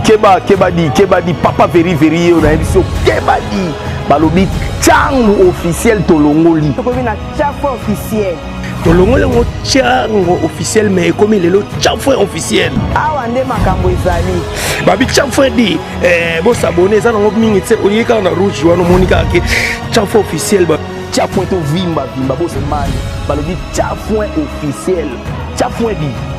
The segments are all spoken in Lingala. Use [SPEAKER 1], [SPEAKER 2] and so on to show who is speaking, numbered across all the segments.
[SPEAKER 1] keba keba di keba di papa veri veri ye na biso keba di balobi changu officiel tolongoli tokomi na chafe
[SPEAKER 2] officiel tolongoli yango
[SPEAKER 3] chango officiel mais ekomi lelo chanfre officiel awa nde makambo
[SPEAKER 2] ezali babi chanfre
[SPEAKER 3] di eh, bosabone eza nango mingi te oye kaka na rouge wana omoni kaka ke chanfre officiel chafoin tovimba
[SPEAKER 1] vimba bosemani balobi chafoin officiel chafoin di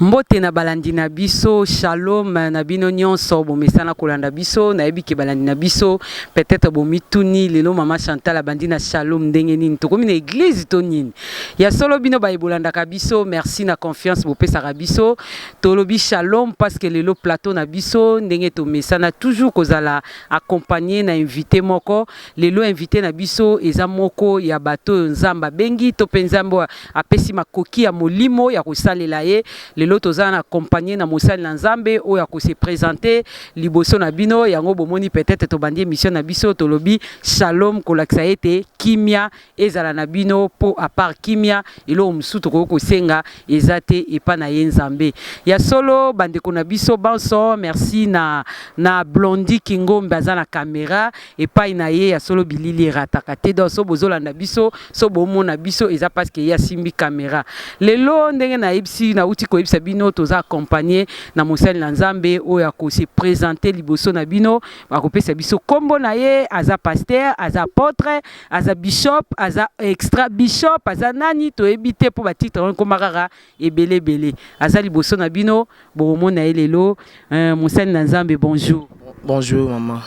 [SPEAKER 4] Mbote na balandi na biso, shalom na bino nyonso bomesana kolanda biso. Nayebi ke balandi na biso peut-être bomituni lelo mama Chantal abandi na shalom ndenge nini? Tokomi na eglise to nini? Ya solo bino baye bolandaka biso, merci na confiance bopesaka biso. Tolobi shalom parce que lelo plateau na biso ndenge tomesana toujours kozala accompagner na invité moko. Lelo invité na biso eza moko ya bato oyo Nzambe abengi to mpe Nzambe oyo Apesi makoki ya molimo ya kosalela ye. Lelo toza na compagnie na mosali na Nzambe oyo ako se presenter liboso na bino. Yango bomoni peut etre tobandi emission na biso tolobi shalom kolakisa ete kimia ezala na bino po a part kimia eloko mosusu tokoki kosenga eza te epa na ye Nzambe. Ya solo bandeko na biso banso merci na na Blondy Kingombe aza na camera epayi na ye ya solo bilili erataka te donc so bozolanda biso so bomona biso eza parce que ye asimbi camera lelo ndenge nayebisi nawuti koyebisa bino toza accompagne na mosali na nzambe oyo ako se presenter liboso na bino akopesa biso kombo na ye aza pasteur aza apotre aza bishop aza extra bishop aza nani toyebi te mpo batitre wana ekoma kaka Ebele ebele aza liboso na bino bokomona ye lelo euh, mosali na nzambe bonjour Bonjour maman.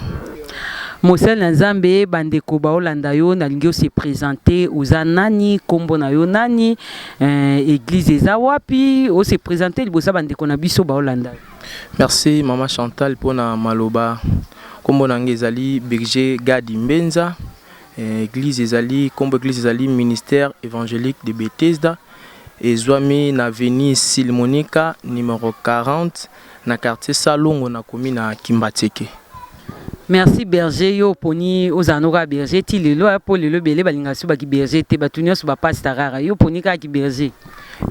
[SPEAKER 5] mosali
[SPEAKER 4] na nzambe bandeko baolanda yo nalingi ose presente oza nani kombo na yo nani euh, eglise eza wapi ose presente liboso ya bandeko na biso baolanda yo Merci
[SPEAKER 5] maman Chantal mpo na maloba. Kombo na ngai ezali Berger Gadi Mbenza. Eh, Église ezali kombo église ezali ministère évangélique de Bethesda. Ezwami na avenue Sylle Monica, numero 40, na quartier Salongo, na commune ya Kimbatseke. Merci
[SPEAKER 4] berger yo oponi ozala no kaka berger ti lelo hein po lelo ebele balingaka soki ba ki berger te batu nionso ba pasta kaka yo oponi kaka ki berger?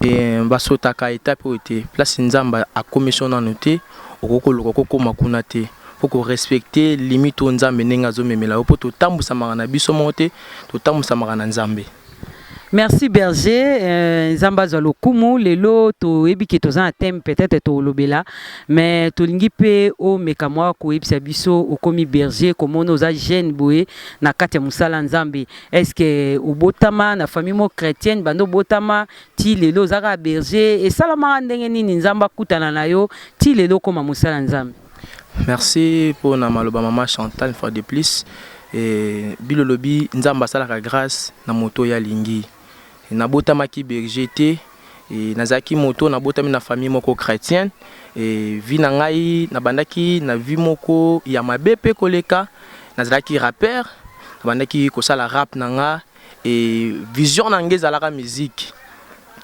[SPEAKER 4] Eeh ba
[SPEAKER 5] sotaka etape oyo te place nzambe akomisi yo nanu te okoki koluka oko koma kuna te faut ko respecter limite oyo nzambe ndenge azo memela yo po to tambusamaka na biso moko te to tambusamaka na nzambe. Merci
[SPEAKER 4] berger nzambe azwa lokumu lelo toyebi ke toza na thème peut-être tolobela mais tolingi pe omeka mwa koyebisa biso okomi berger komona oza jeune boye na kati ya mosala nzambe est ce que obotama na famille mo chrétienne banda obotama ti lelo oza kaka berger esalamaka ndenge nini nzambe akutana na yo ti lelo okoma mosala nzambe Merci
[SPEAKER 5] pona maloba maman Chantal une fois de plus Bill olobi nzambe asalaka grace na moto oyo alingi nabotamaki berger te nazalaki moto nabotami na famille moko chretienne vie na ngai nabandaki na vie moko ya mabe pe koleka nazalaki rapper nabandaki kosala rap na ngai Et vision na nga ezalaka musique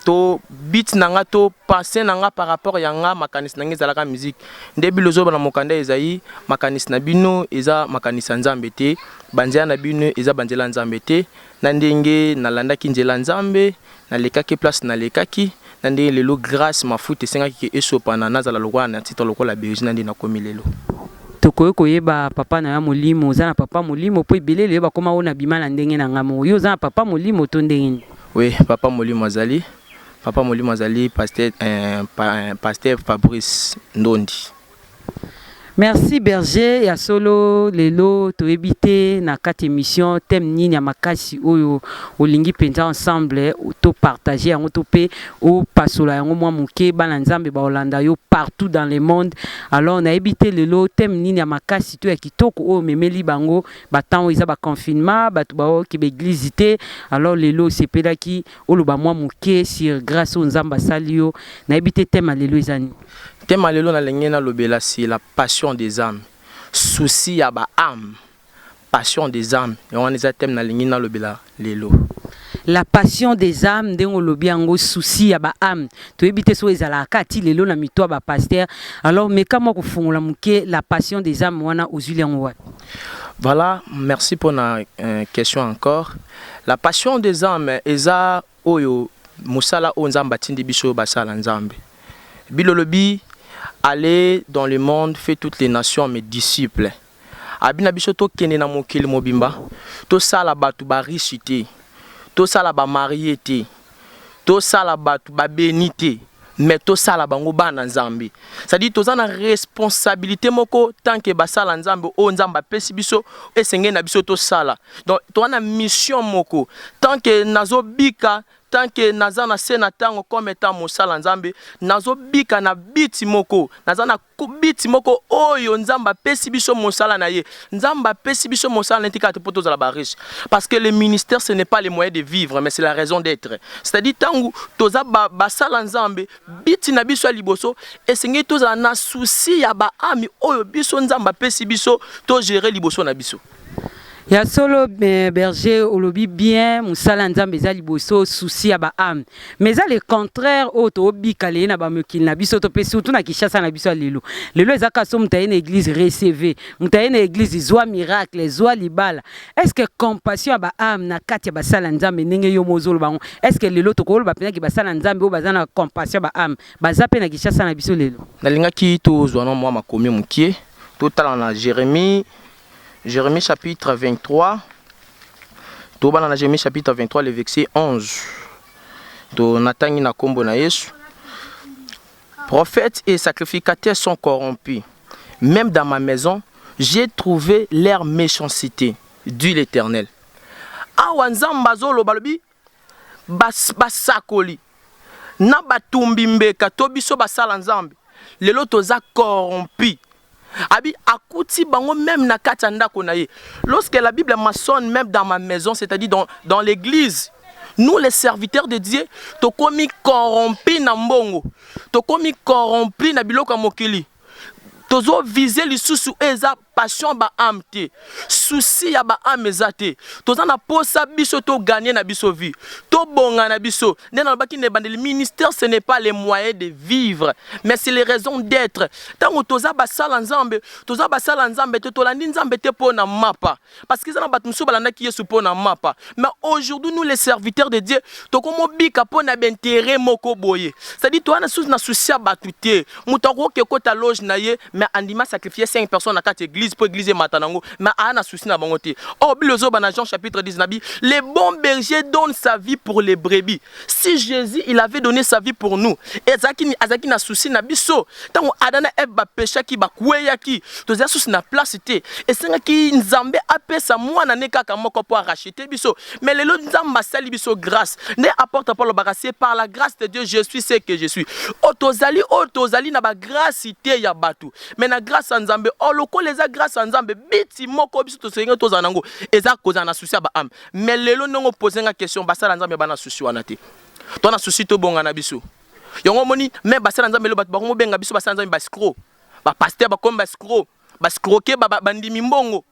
[SPEAKER 5] to beat na nga to pensee na nga par rapport ya nga makanisi na nga ezalaka musique nde bilozoba na mokanda ezali makanisi na bino eza makanisi ya nzambe te banzela na bino eza banzela ya nzambe te na ndenge nalandaki nzela ya nzambe Nalekaki place nalekaki, na ndenge lelo grace mafuta esengaki ke esopana nazala lokola na titre lokola Beuzzi na ndenge nakomi lelo. Tokoki
[SPEAKER 4] koyeba papa nayo ya molimo? Oza na papa molimo? Po ebele lelo bakoma oh nabima na ndenge na nga moko. Yo oza na papa molimo to ndenge nini? Oui papa molimo
[SPEAKER 5] azali, papa molimo azali pasteur eh, pasteur Fabrice ndondi.
[SPEAKER 4] Merci berger ya solo lelo toyebi te na kati emission thème nini ya makasi oyo olingi penza ensemble to partager yango to pe o pasola yango mwa moke bana nzambe ba olanda yo partout dans le monde alors nayebi te lelo thème nini ya makasi to ya kitoko oyo memeli bango ba temps eza ba confinement bato ba oke ba eglise te alors lelo osepelaki Oloba mwa moke sur grace oyo Nzambe asali yo. Nayebi te thème ya
[SPEAKER 5] lelo eza nini? Thème
[SPEAKER 4] ya
[SPEAKER 5] lelo nalingi
[SPEAKER 4] nalobela
[SPEAKER 5] sur la
[SPEAKER 4] passion
[SPEAKER 5] des ames, souci ya ba ames, passion des ames yango wana eza thème nalingi nalobela lelo. La
[SPEAKER 4] passion des ames ndenge olobi yango souci ya ba ames toyebi te soki ezalaka kaka ti lelo na mitu ya ba pasteurs, alors meka mwa kofongola moke la passion des ames wana ozwili yango wapi? Voilà,
[SPEAKER 5] merci pona question encore. La passion des ames eza oyo musala oyo nzambe atindi biso basala nzambe bible olobi alle dans le monde fait toutes les nations mes disciples abi na biso tokende na mokili mobimba tosala bato ba riche te tosala ba marie te Tosala batu ba beni te mais tosala bango bana nzambe c'est à dire toza na responsabilite moko tant que basala nzambe oyo nzambe apesi biso esengeli na biso tosala donc toza na mission moko tant que nazo bika tant que naza na se na tango comme etant mosala nzambe nazo bika na biti moko naza na Kubiti moko oyo nzambe apesi biso mosala na ye nzambe apesi biso mosala na ye tikaka te mpo tozala ba riche parce que le ministère ce n'est pas le moyen de vivre mais c'est la raison d'etre c'est à dire ntango toza basala nzambe biti na biso ya liboso esengeli tozala na souci ya baami oyo biso nzambe apesi biso to gere liboso na biso Ya solo
[SPEAKER 4] eh, berger olobi bien musala nzambe eza liboso souci ya ba ame mais eza le contraire oyo tobika leye na bamokili na biso to mpe surtout na kishasa na biso ya lelo lelo eza kaso moto aye na église receve moto aye na église zwa miracle zwa libala est ce que compassion ya ba ame na kati ya basala nzambe ndenge yo mozoloba yango est ce que lelo tokoloba mpenaki basala nzambe oyo baza na compassion ya ba ame baza mpe na kishasa na biso lelo nalingaki tozwa
[SPEAKER 5] na mwa makomi mokie totala na jérémie Jeremie chapitre 23. Tobana na Jeremie chapitre 23 le verset 11. To natangi na kombo na Yesu. Prophètes et sacrificateurs sont corrompus. Même dans ma maison, j'ai trouvé leur méchanceté, dit l'Éternel. Awa Nzambe azoloba lobi Basakoli na batumbi mbeka to biso basala nzambe lelo toza corrompu abi akuti bango meme na kati ya ndako na ye lorsque la bible maçonne meme dans ma maison c'est à dire dans, dans l'église nous les serviteurs de Dieu tokomi corrompu na mbongo tokomi corrompu na biloko ya mokili tozo vise lisusu eza passion ya ba ame te souci ya ba ame eza te toza na posa biso to gagne na biso vie to bonga na biso nde na lobaki na ebandeli ministère ce n'est pas les moyens de vivre mais c'est les raisons d'etre tango toza basala nzambe toza basala nzambe te tolandi nzambe te pona mapa Parce que eza na bato mosusu balandaki Yesu mpo na mapa. Mais aujourd'hui, nous les serviteurs de Dieu, tokomi obika mpo na b'interet moko boye. C'est-à-dire toza na susu na souci ya bato te. Moto akoki ekota loge na ye mais andimi a sacrifier 5 personnes na kati ya eglise mpo eglise emata na yango mais aa na souci na bango te. Or bible ezoba na Jean chapitre 10 na bi, le bon berger donne sa vie pour les brebis. Si Jesus il avait donne sa vie pour nous et azalaki azalaki na souci na biso ntango Adam na Eve bapeshaki bakweyaki tozali susu na place te esengaki Nzambe apesa mwana ne kaka moko mpo arachete biso mais lelo Nzambe asali biso grâce nde apôtre Paul alobaka c'est par la grâce de Dieu je suis ce que je suis oyo tozali oyo tozali na bagrâce te ya bato mais na grâce ya Nzambe o lokola eza grâce ya Nzambe biti moko biso tosengeli tozala nango eza kozala na souci ya baame Mais lelo ndenge o poser nga question basala nzambe ba na souci wana te. To na souci to bonga na biso. Yango omoni mais basala nzambe lelo bato ba komi benga biso basala nzambe ba escroc. Ba pasteur ba komi ba escroc. Ba escroquer ba ba ndimi mbongo.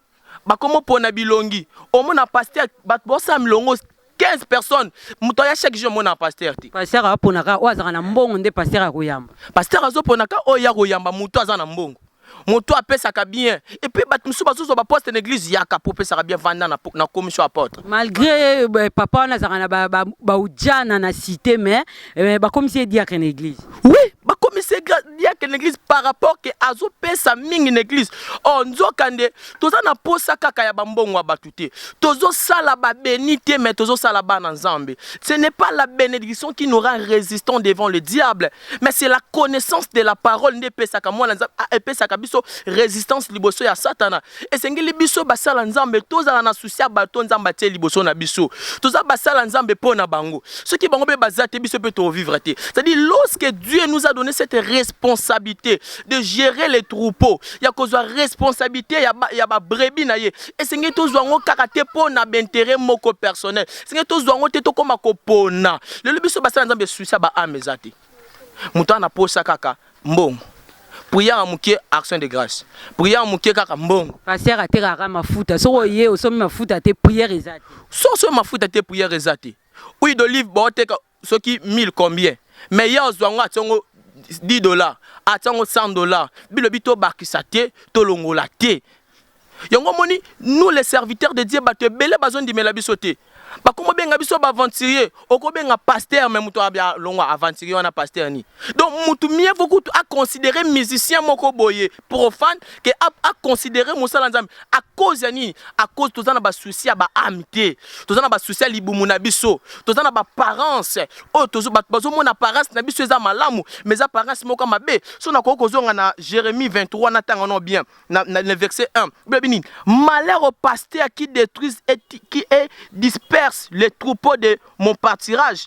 [SPEAKER 5] Ba komi o pona bilongi. Omona pasteur bato ba sala milongo 15 personnes moto aya chaque jour omona pasteur te. Pasteur a pona ka oyo azalaka
[SPEAKER 4] na mbongo nde pasteur ako yamba. Pasteur azo pona ka
[SPEAKER 5] oyo aya ko yamba moto aza na mbongo. moto apesaka bien et puis bato mosusu bazozwa baposte na eglise yaka po opesaka bien vanda na, na commission apotre malgré euh,
[SPEAKER 4] papa wana azalaka na ba, ba, ba ujana na cité mais euh, bakomisi ye diacre na église oui bakomisi
[SPEAKER 5] ye diacre na église par rapport ke azopesa mingi na église o oh, nzoka nde toza na posa kaka ya bambongo ya bato te tozosala babeni te mais tozosala bana nzambe ce n'est pas la bénédiction qui n'aura résistant devant le diable Mais c'est la connaissance de la parole nde epesaka mwana Nzambe, ah, epesaka biso resistance liboso ya Satana. Esengeli biso basala Nzambe tozala na souci ya bato Nzambe atie liboso na biso. Toza basala Nzambe mpo na bango. Soki bango mpe baza te, biso mpe tovivre te. C'est-à-dire lorsque Dieu nous a donné cette responsabilité de gérer les troupeaux, ya kozwa responsabilité ya ba, ya ba brebis na ye, esengeli tozwa yango kaka te mpo na b'interet moko personnel, Senge tozwa yango te tokoma kopona. Lelo biso basala Nzambe suisa ba ame eza te. Moto ana posa kaka mbongo. Prière mukie action de grâce. Prière mukie kaka mbongo. Pasteur atekaka
[SPEAKER 4] mafuta. Soko ye osomi mafuta te prière eza te. Soko osomi mafuta te
[SPEAKER 5] prière eza te. Huile d'olive baoteka soki 1000 combien mais ye azua ngo atie ngo 10 dollars atie ngo 100 dollars bilobi to bakisa te to longola te yango moni nous les serviteurs de Dieu bato ebele bazo ndimela biso te bakomo benga biso ba aventurier okobenga pasteur mais moto abia longwa aventurier wana pasteur ni donc moto mieux vaut kutu a considérer musicien moko boye profane que a, a considérer mosala nzambe à cause ya nini à cause toza na ba souci ya ba âme te toza na ba souci ya libumu na biso toza na ba parents oyo tozo bato bazomona apparence na biso eza malamu mais eza apparence moko mabe so nakoki kozonga na Jérémie 23 na tanga no bien na, na, na verset 1 biebi nini malheur au pasteur qui détruise et qui est disperse les troupeaux de mon pâturage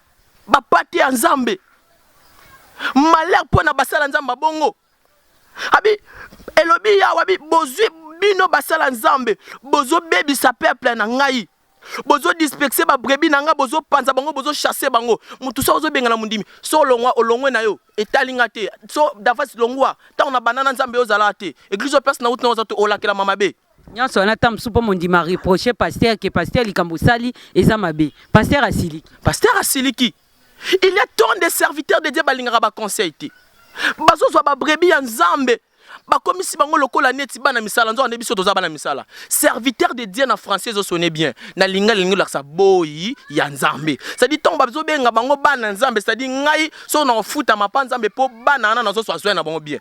[SPEAKER 5] Ba pate ya Nzambe. Malheur mpo na basala Nzambe mabongo. Abi elobi yawa bi bozwi bino basala Nzambe bozobebisa peuple na ngai bozo dispexer ba brebi na nga bozo panza bango bozo chasser bango mutu so ozo bengana mundimi so olongwa olongwe na yo etali nga te so davas longwa tango na banana nzambe ozala te église place na uti na oza to olakela mama be Nionso wana temps mosusu
[SPEAKER 4] mpo mondima reproche pasteur que pasteur likambo osali eza mabe pasteur asiliki pasteur asiliki il y a tant de serviteurs de Dieu balingaka ba conseil te bazozwa ba brebis ya nzambe bakomisi bango lokola neti bana misala nzoka nde biso toza bana misala serviteur de dieu na français ezosone bien na linga lingi olakisa boyi ya nzambe cetadi ntango bazobenga bango bana nzambe cetadi ngai soki nakofuta mapa nzambe mpo bana wana nazoswa zwa na bango bien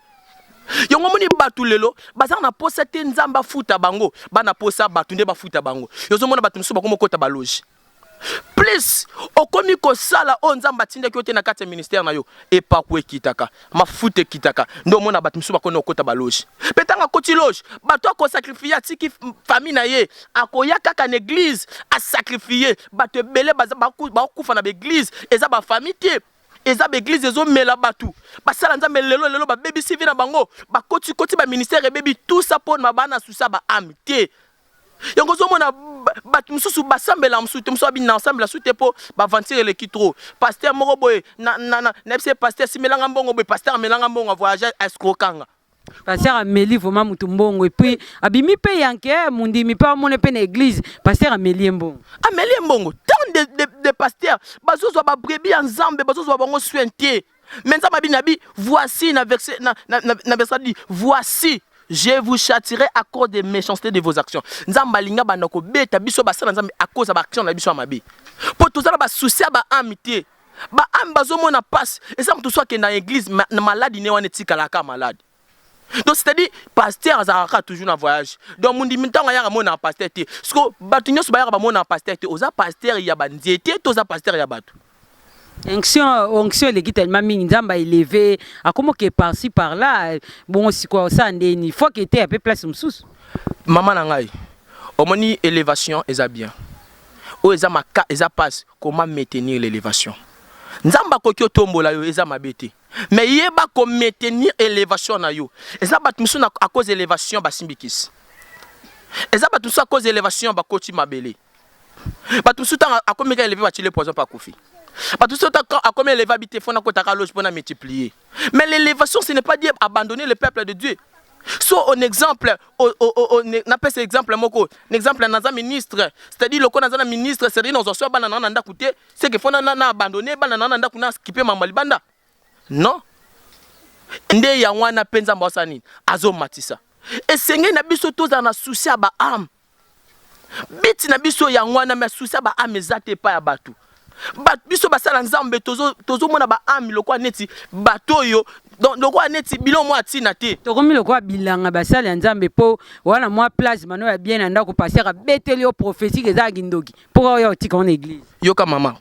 [SPEAKER 4] yango omoni bato lelo bazala na posa te nzambe afuta bango bana posa bato nde bafuta bango yozomona bato mosusu bakomi okota baloge plus okomi kosala oyo nzambe atindaki yo te na kati ya ministère na yo epaku ekitaka mafuta ekitaka nde omona bato mosusu bakoni okota baloge mpe ntango akoti loge bato akosakrifie atiki famille na ye akoya kaka na eglize asakrifie bato ebele bakufa na baeglize eza bafamille te Eza ba eglise ezo mela batu basala nzambe lelo lelo ba bebisi vie na bango ba koti koti ba ministère ebebi tout ça po na bana susa ba ame te yango ozomona bato mosusu basambela mosusu te mosusu abini na asambela su te mpo baventure eleki trop paster moko boye nayebisa ye paster simelanga mbongo boye paster amelanga mbongo avoyage escrokanga Pasteur ameli vraiment mutu mbongo et puis abimi pe yanke eh, mundimi pe amone pe na église pasteur ameli mbongo. Ameli mbongo tant
[SPEAKER 5] de de, de pasteur bazozwa ba brebis ya Nzambe bazozwa bango soin te. Mais Nzambe abi nabi voici na verset na na, na, na verset dit voici je vous châtirai à cause des méchancetés de vos actions. Nzambe alinga banda kobeta biso basala Nzambe à cause ya ba actions na biso ya mabe. Po tozala ba soucis ya ba âme te. Ba ame bazo mona pasi eza mutu so akenda eglise na malade ne wana etikala kaka malade. Donc c'est à dire pasteur azalaka kaka toujours na voyage. Donc mundimi tango ayaka mona pasteur te. Siko batu nyoso bayaka ba mona pasteur te oza pasteur ya ba nzete to oza pasteur ya batu. Onction,
[SPEAKER 4] onction eleki tellement mingi nzambe a eleve akomo ke par ci par là bongo sikoyo osala ndeni faut que eteya mpe place mosusu mama na ngai
[SPEAKER 5] omoni elevation eza bien oyo eza maka eza pasi comment maintenir l'elevation nzambe akoki otombola yo eza mabe te mais yeba ko maintenir elevation na yo eza bato mosusu na à cause elevation basimbikisi eza bato mosusu à cause elevation bakoti mabele bato mosusu ntango akomeka eleve batile poison mpe akufi bato mosusu akomi eleve abite fona kotaka loge mpona multiplier Mais l'élévation, ce n'est pas dire abandonner le peuple de Dieu. So on exemple, on, on, on, na pesa exemple moko, un exemple naza ministre, c'est-à-dire loko naza na ministre, c'est-à-dire nazo swa bana na ndaku te, c'est que fona na abandonner bana na ndaku na skipe mama libanda. Non. Nde ya wana penza mbosani azo matisa. Esenge na biso tozana souci ya ba âme. But na biso yango wana mais souci ya ba ame eza te epai ya bato. Bato biso basala Nzambe tozo tozomona ba ame lokola neti bato oyo donc lokola neti biloko mwa ntina te. Tokomi lokola bilanga
[SPEAKER 4] basali ya Nzambe po wana mwa plage mano ya bien na ndako pasteur abeteli yo prophetie eza ya kindoki pourquoi oya otika ngo na eglise. Yoka mama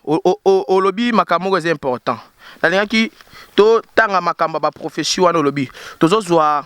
[SPEAKER 5] olobi makambo moko eza important nalingaki totanga makambo ya ba prophetie wana olobi tozozwa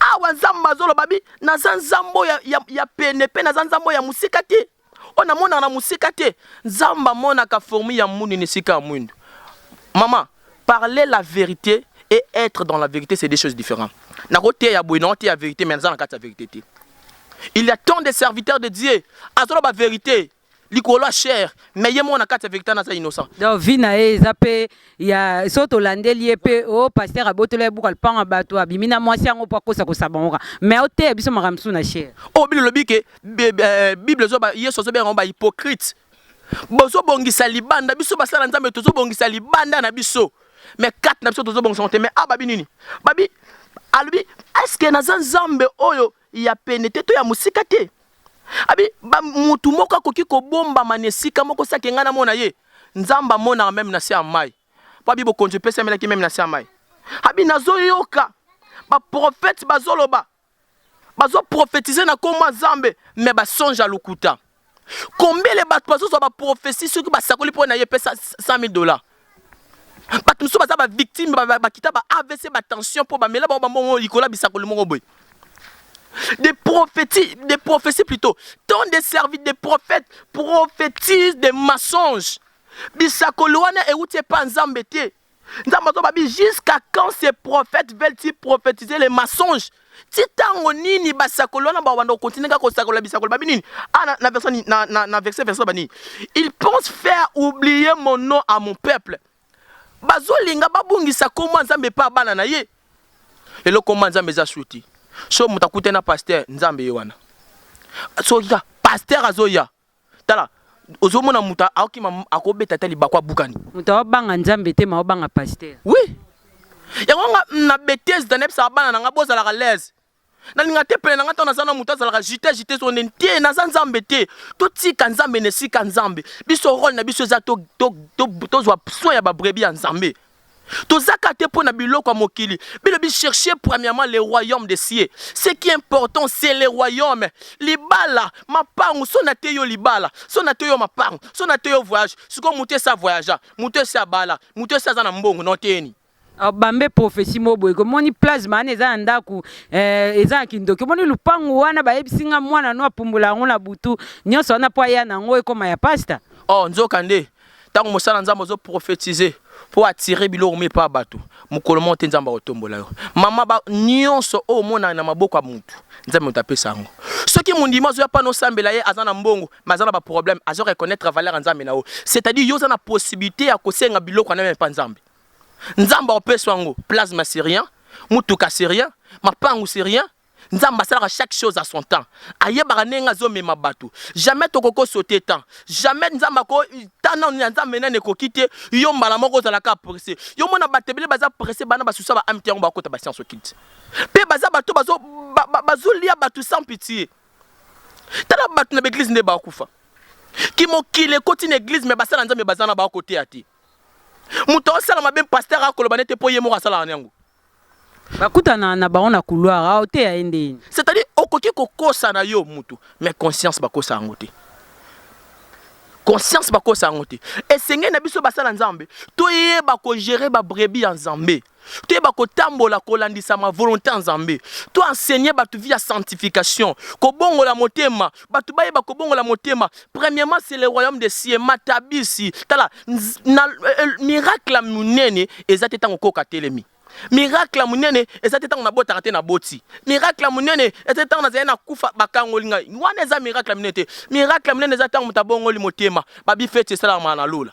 [SPEAKER 5] awa nzambe azoloba bi naza nzambe ya, ya, ya pene mpe naza nzambe ya mosika te oyo namonaka na mosika te nzambe amonaka formi ya mwindu na esika ya mwindu mama parler la vérité et être dans la vérité c'est des choses différentes nakoteya boye naoteya vérité mais naza na kati ya vérité te il y a tant de serviteurs de dieu azoloba vérité likolo ya cher mais ye moko na kati ya vectan aza innocent donc vie na ye eza
[SPEAKER 4] pe ya so tolandeli ye pe o oh, pasteur abotola ye buka lupango ya bato abimi na mwasi yango mpo akosa kosabangoka mais oteya biso makambo mosusu na cher oyo oh, bino lobi ke
[SPEAKER 5] eh, bible ezoba yesu azobengaka ngo bahypocrite bozobongisa libanda biso basala nzambe tozobongisa libanda na biso mais kati na biso tozobongisa ngo te mais awa babi nini babi alobi eske naza nzambe oyo ya pene te to ya mosika te abi ba mutu moko akoki kobombama na esika moko sake ngai namona ye nzambe amonaka meme na se ya mai mpo abi bokonzi epesamelaki meme na se ya mai abi nazoyoka baprofete bazoloba bazoprofetize na nkombo ya nzambe me basonge ya lokuta Combien ya bato bazozwa ba prophetie soki basakoli mpo na ye epesa 100.000 dollars. Bato mosusu baza ba victime bakita ba AVC ba tension mpo bamela bango bambongo likolo ya bisakoli moko boye. Des prophéties, des prophéties plutôt. Tant des services, des prophètes prophétisent des mensonges. Bisakoli wana euti epa Nzambe te. Nzambe azo babi jusqu'à quand ces prophètes veulent-ils prophétiser les mensonges ti ntango nini basakoli wana bawanda kokontinue kaka kosakola bisakoli babi nini ah, na, na, verse, na, na, na verse verse banini il pense faire oublier mon nom à mon peuple bazolinga babungisa nkombo ya nzambe epa bana na ye lelo nkombo ya nzambe eza suti so moto akute na paster nzambe ye wana soki ka paster azoya Tala, ozomona moto akima akobeta ata libaku abukani. Moto aobanga Nzambe
[SPEAKER 4] te, ma obanga pasteur. Oui.
[SPEAKER 5] Yango nga na betise da nebisa bana na nga bozalaka l'aise. Na linga te pene na nga tona zana moto azalaka jite jite sonde nte naza Nzambe te. To tika Nzambe ne sika Nzambe. Biso role na biso eza to to to tozwa soin ya ba brebis ya Nzambe. Toza ka te pona biloko ya mokili bino bi chercher premièrement le royaume de cieux ce qui important c'est le royaume libala mapangu soki na teyi yo libala soki na teyi yo mapangu soki na teyi yo voyage sikoyo mutu esi a voyagea mutu esi abala mutu esi aza na mbongo na oteyeni Obambe
[SPEAKER 4] prophetie moko boye komoni plasma wana eza na ndaku eh, eza na kindoki omoni lupangu wana bayebisi nga mwana no apumbola yango na butu nyonso wana po aya na yango ekoma ya pasta oh nzoka nde
[SPEAKER 5] Tango mosala nzambe ozo prophetiser po attirer biloko mi epa bato mokolo moko te nzambe akotombola yo mama ba nyonso oyo omonaka na maboko ya mutu nzambe moto apesa yango soki mondimi azoya pana osambela ye aza na mbongo mais aza na ba problème azo reconnaître valeur ya nzambe na yo c'est à dire yo oza na possibilité ya kosenga biloko wana meme epa nzambe nzambe akopesa yango plasma c'est rien motuka c'est rien mapangu c'est rien Nzambe asalaka chaque chose à son temps. Ayebaka ndenge azo mema batu. Jamais toko ko sauter temps. Jamais Nzambe ako temps nanu ya Nzambe nanu ekoki te yo mbala moko ozala kaka presse. Yo mona batu ebele baza presse bana ba susa ba ame te yango bako kota ba science occulte. Pe baza batu oyo bazo bazo lia batu sans pitie. Tala batu na ba eglise nde ba kufa. Ki mokili ekoti na eglise mais basala Nzambe baza na ba ko teya te. Mutu azo sala mabe pasteur ako loba nete po ye moko asalaka na yango. bakutana
[SPEAKER 4] na bango na couloir awa oteya ye nde yini c'est à dire okoki
[SPEAKER 5] kokosa na yo mutu mais conscience bakosa yango te conscience bakosa yango te esengeli na biso basala nzambe toyeba kogere babrebi ya nzambe toyeba kotambola kolandisama volonté ya nzambe to enseigner bato via sanctification kobongola motema batu bayeba kobongola motema premièrement c'est le royaume de cieux matabisi tala na miracle munene eza te tango koka telemi miracle ya monene eza te ntango nabotaka te naboti miracle ya monene eza te ntango nazali na kufa bakangoli ngai wana eza miracle ya monene te miracle ya monene eza ntango moto abongoli motema babi feti esalamaka na lola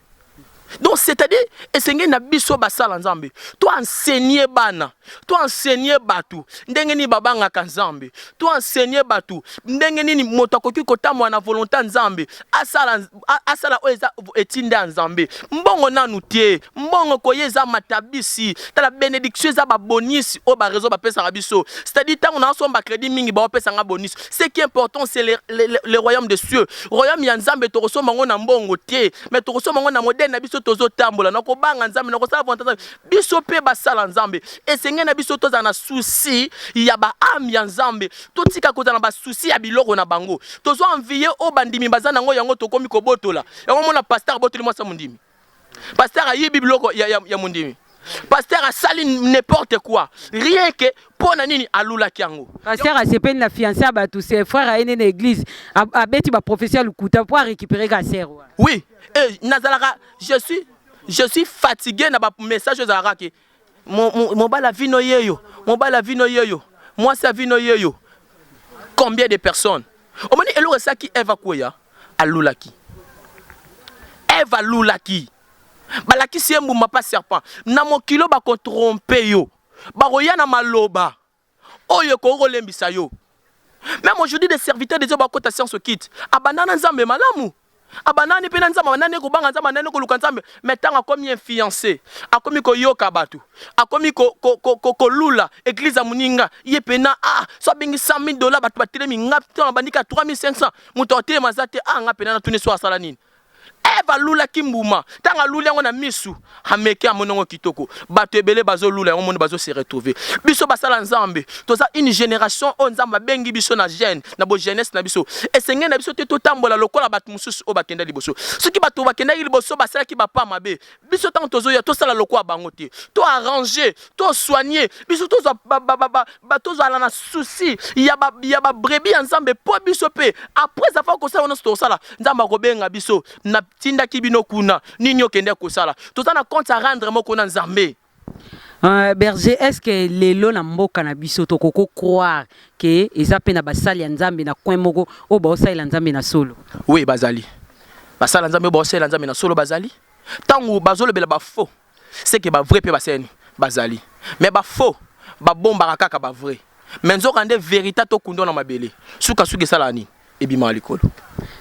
[SPEAKER 5] donc c'est-à-dire esengeli na biso basala nzambe to enseigner bana to enseigner bato ndenge nini babangaka nzambe to enseigner bato ndenge nini moto akoki kotambola na volonté ya nzambe asala asala oyo eza etinda ya nzambe mbongo nanu te mbongo koya eza matabisi tala benediction eza babonisi oyo barezo bapesaka biso c'est-à-dire ntango naosomba crédit mingi baopesanga bonisi Ce qui est important, c'est le, le, le, le, royaume des cieux. Royaume ya Nzambe tokosomba ngo na mbongo te, mais tokosomba ngo na modèle na biso tozo tambola, na kobanga Nzambe, na kosala volonté Nzambe. Biso pe basala Nzambe. Esenge na biso tozala na souci ya ba âme ya Nzambe. Totika kozala na ba souci ya biloko na bango. Tozo envier o bandimi bazana ngo yango tokomi kobotola. Yango mona pasteur botoli mwasa mondimi. Pasteur ayibi biloko ya, ya, ya mondimi. Pasteur asali n'importe quoi. Rien que mpo na nini alulaki yango. Pasteur asepeli na
[SPEAKER 4] fiancé ya bato, c'est frère aye nde na église a- abeti ba prophetie ya lokuta mpo a récupérer ka sœur wana. Oui, et
[SPEAKER 5] nazalaka je suis je suis fatigué na ba message ezalaka ke Mo, mo, mobali ya vino yeyo, mobali ya vino yeyo, mwasi ya vino yeyo. Combien de personnes? Omoni eloko esaki Eva kweya, alulaki. Eva alulaki. Balakisi ye mbuma pa serpent. Na mokilo bako trompe yo. Bakoya na maloba. Oyo ekoki kolembisa yo. Meme aujourd'hui des serviteurs de Dieu bakota science okite. Abanda na Nzambe malamu. Abanda ne pe na Nzambe, abanda ne kobanga Nzambe, abanda ne koluka Nzambe, mais tango akomi influence, akomi koyoka bato, akomi ko, ko, ko, ko, kolula eglise ya moninga, ye pena ah, so abengi 100 000 dollars bato batelemi, nga to nabandi ka 3500, moto atelema aza te, ah nga pena natuni so asala nini? Eve alulaki mbuma, ntango aluli yango na misu, ameki, amoni yango kitoko. Bato ebele bazolula yango, omoni bazo se retrouver. Biso basala Nzambe, toza une generation oyo Nzambe abengi biso na jeune, na bo jeunesse na biso. Esengeli na biso te totambola lokola bato mosusu oyo bakenda liboso. Soki bato bakendaki liboso basalaki ba pas mabe, Biso tango tozoya tosala lokola bango te. To arranger, to soigner. Biso tozwa ba ba ba ba tozala na souci ya ba ya ba brebis ya Nzambe po biso pe après avoir kosala wana tokosala Nzambe akobenga biso na tindaki bino kuna nini okende kosala. Toza na compte à rendre moko na Nzambe. Euh,
[SPEAKER 4] berger est ce que lelo na mboka na biso tokoko croire ke eza mpe na basali ya nzambe na coin moko oyo baosalela nzambe na solo oui bazali
[SPEAKER 5] basala nzambe oyo baosalela nzambe na solo bazali Tango bazo lobela ba faux ce que ba vrais pe baseni bazali mais ba faux ba bombaka kaka ba vrais mais nzoka nde verita to kundwa na mabele suka suka esalaka nini ebimaka likolo.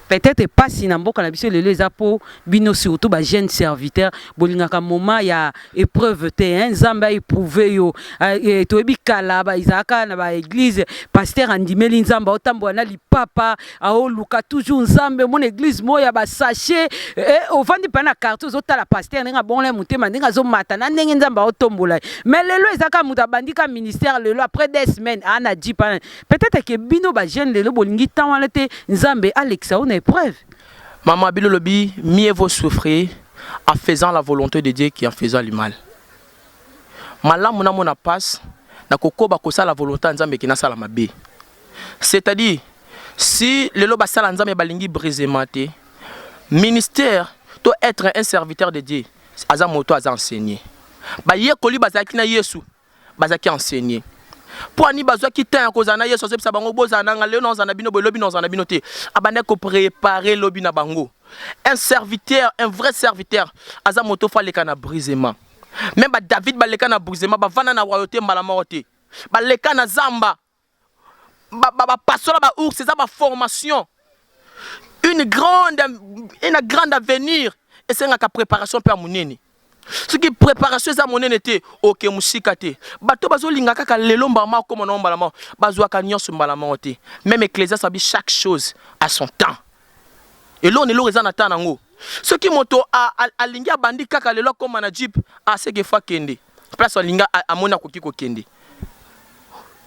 [SPEAKER 5] Peut etre
[SPEAKER 4] pasi na mboka na biso lelo eza po bino surtout ba jeunes serviteurs bolingaka moment ya epreuve te hein nzambe a eprouve yo toyebi kala ezalaka na ba eglise pasteur andimeli nzambe aotambola na lipapa aoluka toujours nzambe omona eglise moko ya basashe eh, ovandi mpa na quartier ozotala paster ndenge abongola ye motema ndenge azomata na ndenge nzambe aotombola ye mais lelo eza kaka moto abandi ka ministère lelo après des semaines aa na jip ana peut-être ke bino bajeune lelo bolingi temps wana te nzambe alekisa yo na épreuve Maman Bilo
[SPEAKER 5] Lobi, mieux vaut souffrir en faisant la volonté de Dieu qu'en faisant le mal. Malamu na mona passe, na kokoba kosala volonté ya Nzambe que nasala mabe. C'est à dire si lelo basala nzambe balingi brisement te ministère to etre un serviteur de Dieu aza moto aza enseigné bayekoli bazalaki na Yesu bazalaki enseigné mpo ani bazwaki temps ya kozala na Yesu azobisa bango bozala nanga lelo naozala na bino boye lobi naozala na bino te abandaki koprepare lobi na bango un serviteur un vrai serviteur aza moto fo aleka na brisement meme ba David baleka na brisement bavanda na royauté mbala moko te baleka na zamba bapasola ba ours eza ba formation une grande une grande avenir esengaka préparation mpe ya monene soki préparation eza monene te oke mosika te bato bazolinga kaka lelo mbala moko akoma nao mbala moko bazwaka nyonso mbala moko te meme ecclesias abi chaque chose à son temps eloko na eloko eza na temps na yango soki moto alingi abandi kaka lelo akoma na jeep aseke fo akende place alinga amoni akoki kokende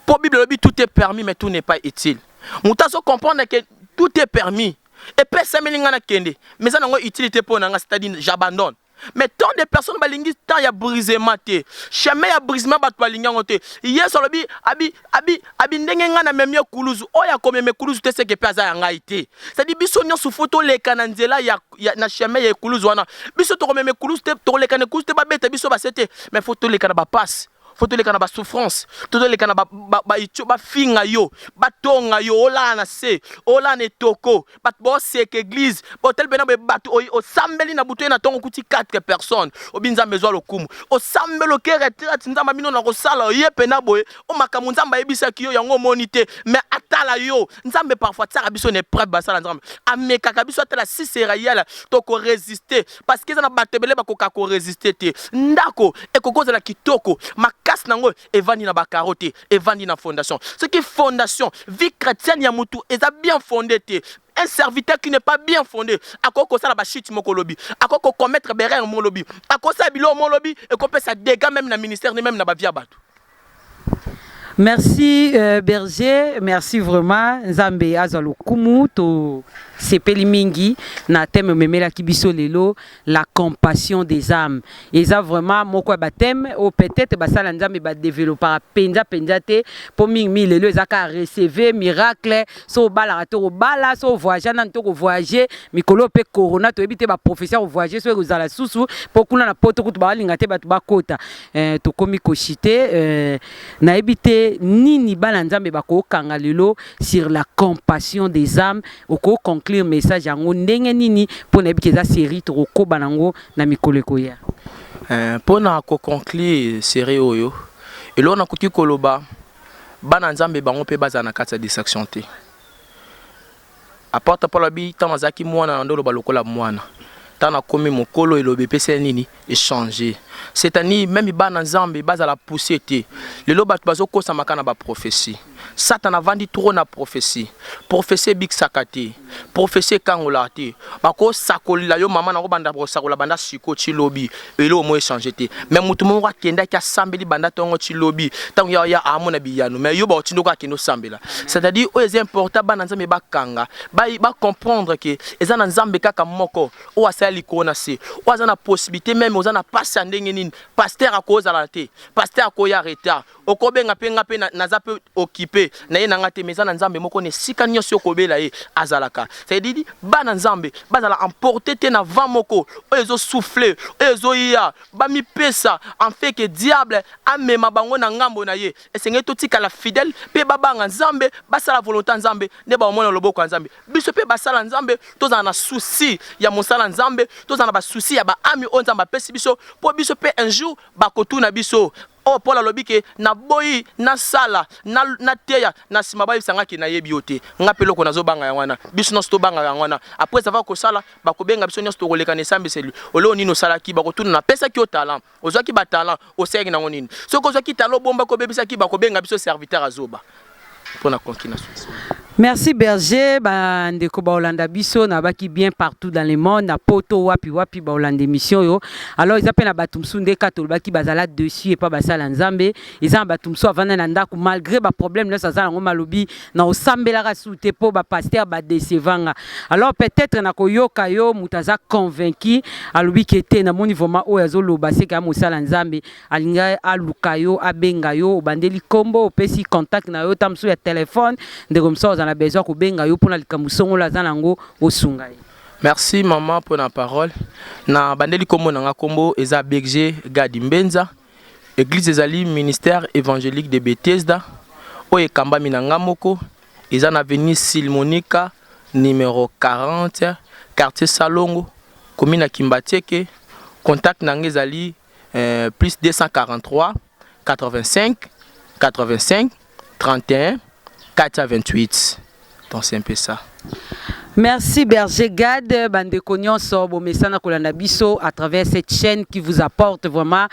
[SPEAKER 5] po bible elobi tout est permis mais tout n'est pas utile moto azo comprendre que tout est permis epesameli ngai nakende mais eza nango utilité mpo na ngai c'est-à-dire j'abandonne mais tant de personnes balingi temps ya brisement te chemin ya brisement bato balingi yango te yesu alobi abi Abi abi ndenge nga na memi ekuluzu oyo akomema ekuluzu te seke pe aza ya ngai te c'est-à-dire biso nyonso faut toleka na nzela ya, ya na chemin ya ekuluzu wana biso tokomema ekuluzu te tokoleka na ekuluzu te babeta biso base te mais faut toleka na bapasi faut toleka na basouffrance to toleka na baitio ba, ba bafinga yo batonga yo olala na se olala na etoko bato boseka eglise botali pena boye bato oyo osambeli na butu ye na ntongo okuti 4 personnes obi nzambe ezwa lokumu osambeli oke retraite nzambe abino na kosala oye pena boye o makambo nzambe ayebisaki yo yango omoni te me atala yo nzambe parfois atiaka biso na epreuve basala nzambe amekaka biso atala si sera yala tokoresiste parceke eza na bato ebele bakoka koresiste te ndako ekoki kozala kitoko makasi na yango evandi na bakaro te evandi na fondation soki fondation vie chrétienne ya mutu eza bien fonde te un serviteur qui n'est pas bien fondé akoki kosala bachute moko lobi akoki kocommettre berere moko lobi akosala biloko moko lobi ekopesa dégât même na ministère ne même na bavia bato Merci
[SPEAKER 4] euh, Berger, merci vraiment Nzambe azwa lokumu to sepeli mingi na thème memela kibiso lelo La compassion des ames eza vraiment moko ya ba thème oyo peut-être basala nzambe ba developpaka penza penza te po mingi mingi lelo eza kaka recevez miracle so obalaka to kobala so ovoyagea nanu to kovoyage mikolo oyo pe corona toyebi te ba prophetie ya kovoyage so ekozala susu po kuna na poto kutu balinga te bato bakota eh, tokomi koshite eh, nayebi te nini bana nzambe bakokanga lelo sur la compassion des ames Oko conclure message yango ndenge nini mpo nayebi ke eza serie tokokoba nango na mikolo ekoya? Eh, mpo
[SPEAKER 5] na ko conclure serie oyo, eloko nakoki koloba, bana Nzambe bango mpe bazala na kati ya distraction te. Apôtre Paul alobi, tango nazalaki mwana, nandoloba lokola mwana, tango nakomi mokolo, eloba epeseli nini? echanger c'est à dire meme bana nzambe bazala pousser te lelo bato bazokosamaka na baprophetie satana avandi trop na prophetie prophetie ebikisaka te prophetie ekangolaka te bakosakolela yo mama na kobanda kosakola banda siko ti lobi eloko moko echange te me moto moko akendaki asambeli banda ntongo ti lobi ntango ya ya amona biyano me yo baotindo kaka akende osambela c'est à dire oyo eza important bana nzambe bakanga bacomprendre ke eza na nzambe kaka moko oyo asala likolo na se oyo aza na possibilité meme oza na pasi ya ndenge nini pasteur akozala te pasteur akoya retard okobenga mpe nga mpe naza mpe occupe na ye na nga te mais eza na nzambe moko na esika nyonso okobela ye azalaka cedidi bana nzambe bazala emporte te na vent moko oyo ezosouffle oyo ezoya bamipesa enfeke diable amema bango na ngambo na ye esengeli totikala fidèle mpe babanga nzambe basala volonté ya nzambe nde baomona loboko ya nzambe biso mpe basala nzambe tozala na souci ya mosala nzambe tozala na basusi ya baami oyo nzambe apesi biso mpo biso mpe un jour bakotuna biso oyo oh, paul alobi ke naboyi nasala nateya na nsima bayebisa ngai ke nayebi yo te ngai mpe eloko nazobanga yango wana biso nyonso tobanga yango wana après ava kosala bakobenga biso nyonso tokoleka na esambiseli oleo nini osalaki bakotuna napesaki yo talent Ozwaki ba talent osalaki nango nini? Soki ozwaki talent obombaki obebisaki bako benga biso serviteur ya zoba pona conki na succès. Merci
[SPEAKER 4] berger ba ndeko ba olanda biso na baki bien partout dans le monde na poto wapi wapi ba olanda emission yo alors eza pe na batu msu nde ka tolobaki bazala dessus et pas basala nzambe eza na batu msu avanda na ndaku malgre ba problème nionso aza nango malobi na osambelaka su te po ba pasteur ba deceva nga alors peut etre na koyoka yo moto aza convaincu alobi ke te na moni vraiment oyo azoloba seke ya mosala nzambe alinga aluka yo abenga yo obandeli kombo opesi contact na yo ta mosusu ya telephone ndeko mosusu aza na besoin kobenga yo mpona likambo songolo aza na yango osunga ye Merci
[SPEAKER 5] maman pour la parole. Na bandeli kombo na nga kombo eza BG Gadi Mbenza. Eglise ezali ministère evangelique de Bethesda oyo ekambami na nga moko eza na avenue Silmonica numero 40 quartier Salongo commune ya Kimbatieke contact na nga ezali eh, plus 243 85 85 31 428 donc c'est un peu ça Merci
[SPEAKER 4] Berger Gad, bande Konyonso, Bomesana Kolanda Biso, à travers cette chaîne qui vous apporte vraiment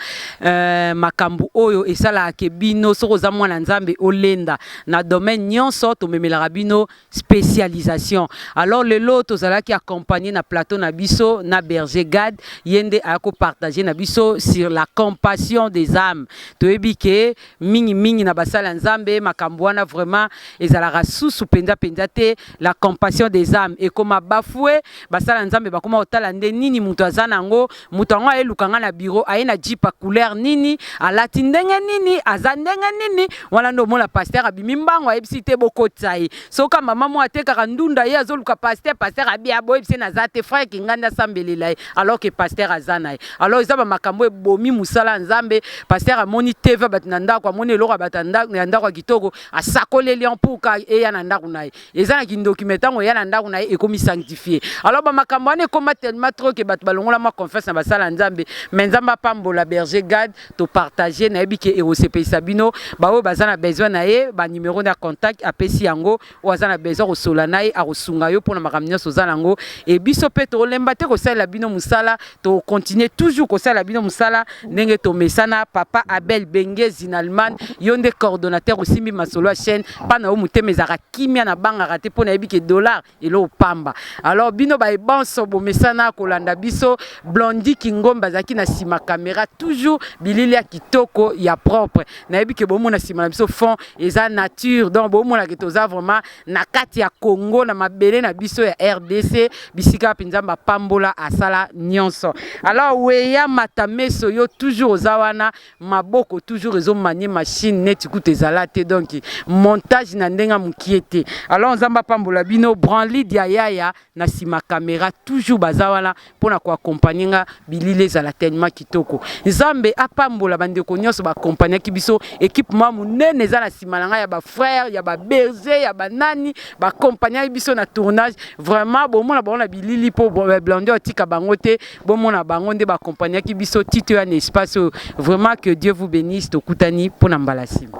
[SPEAKER 4] euh, Makambu Oyo et ça la Akebino, Soroza Mwana Nzambe Olenda, na domaine Nyonso, Tomemela Rabino, spécialisation. Alors le lot, Tozala qui accompagné na plateau na Biso, na Berger Gad, Yende Ako partagé na Biso sur la compassion des âmes. Toebi que mingi mingi na basali ya Nzambe makambo wana vraiment ezalaka susu penza penza te la compassion des âmes ekoma bafoue basali ya Nzambe bakoma kotala nde nini moto aza na yango moto yango aye lukanga na bureau aye na jeep ya couleur nini alati ndenge nini aza ndenge nini wana nde omona pasteur abimi mbango ayebisi te bokotisa ye soka mama moko atekaka ndunda ye azoluka pasteur pasteur abia boyebisi naza te frère kinganda asambelela ye alors que pasteur aza na ye Alors eza ba makambo ebomi musala ya Nzambe. Pasteur amoni TV bato na ndako, amoni eloko ya bato ya ndako ya ndako ya kitoko, asakoleli en pour ka eya na ndako na ye. Eza na kindoki mais tango eya na ndako na ye ekomi sanctifier. Alors ba makambo wana ekoma tellement trop que bato balongola mwa confiance na basala ya Nzambe. Mais Nzambe apambola Berger Gad, to partager nayebi que ekosepelisa bino. Ba oyo baza na besoin na ye ba numero na contact apesi yango. oyo aza na besoin kosola na ye akosunga yo mpo na makambo nyonso oza nango e biso mpe tolemba te kosalela bino mosala tokontinue toujours kosalela bino mosala ndenge tomesana papa abel benge zinalman yo nde coordonnateur osimbi masolo ya chaîne mpa na yo motema ezalaka kimia na bangaka te mpo nayebi ke dollar eloo pamba alors bino baye banso bomesana kolanda biso blondi kingombe azalaki na nsima kamera toujours bilili ya kitoko ya propre nayebi ke bomona nsima na biso fond eza nature donc bomona ke toza vraiment na kati ya congo na mabele na biso ya rdc bisika wapi nzambe apambola asala nyonso alors weya mata meso yo toujours oza wana maboko toujours ezomanie machine neti kutu ezala te donc montage na ndenge mokie te alors nzambe apambola bino branlid ya yaya na nsima kamera toujours baza wana pona ko accompagner nga bilili ezala tellement kitoko nzambe apambola ba ndeko nionso ba accompagnaki biso equipe ma munene eza na sima na nga ya ba frère ya ba berger ya ba nani ba accompagnaki biso na tournage vraiment bomona bango na bilili po blonde otika bango te bomona bango nde ba accompagnaki biso tito ya na espace oyo vraiment que Dieu vous benisse tokutani pona mbala sima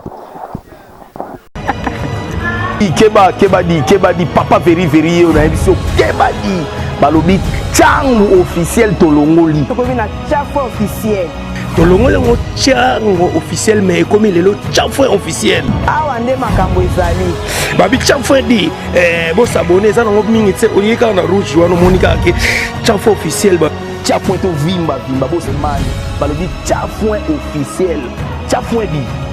[SPEAKER 1] keba keba di keba di papa veri veri yo na biso keba di balobi changu officiel tolongoli tokomi na chaque
[SPEAKER 2] officiel tolongoli yango
[SPEAKER 3] chango officiel mais ekomi lelo chafwe officiel awa nde makambo
[SPEAKER 2] ezali babi chafwe
[SPEAKER 3] di eh, bosabone eza nango mingi te oye kaka na rouge wana omoni kaka ke chafwe officiel chafwe tovimba
[SPEAKER 1] vimba bosemani balobi chafwe officiel chafwe di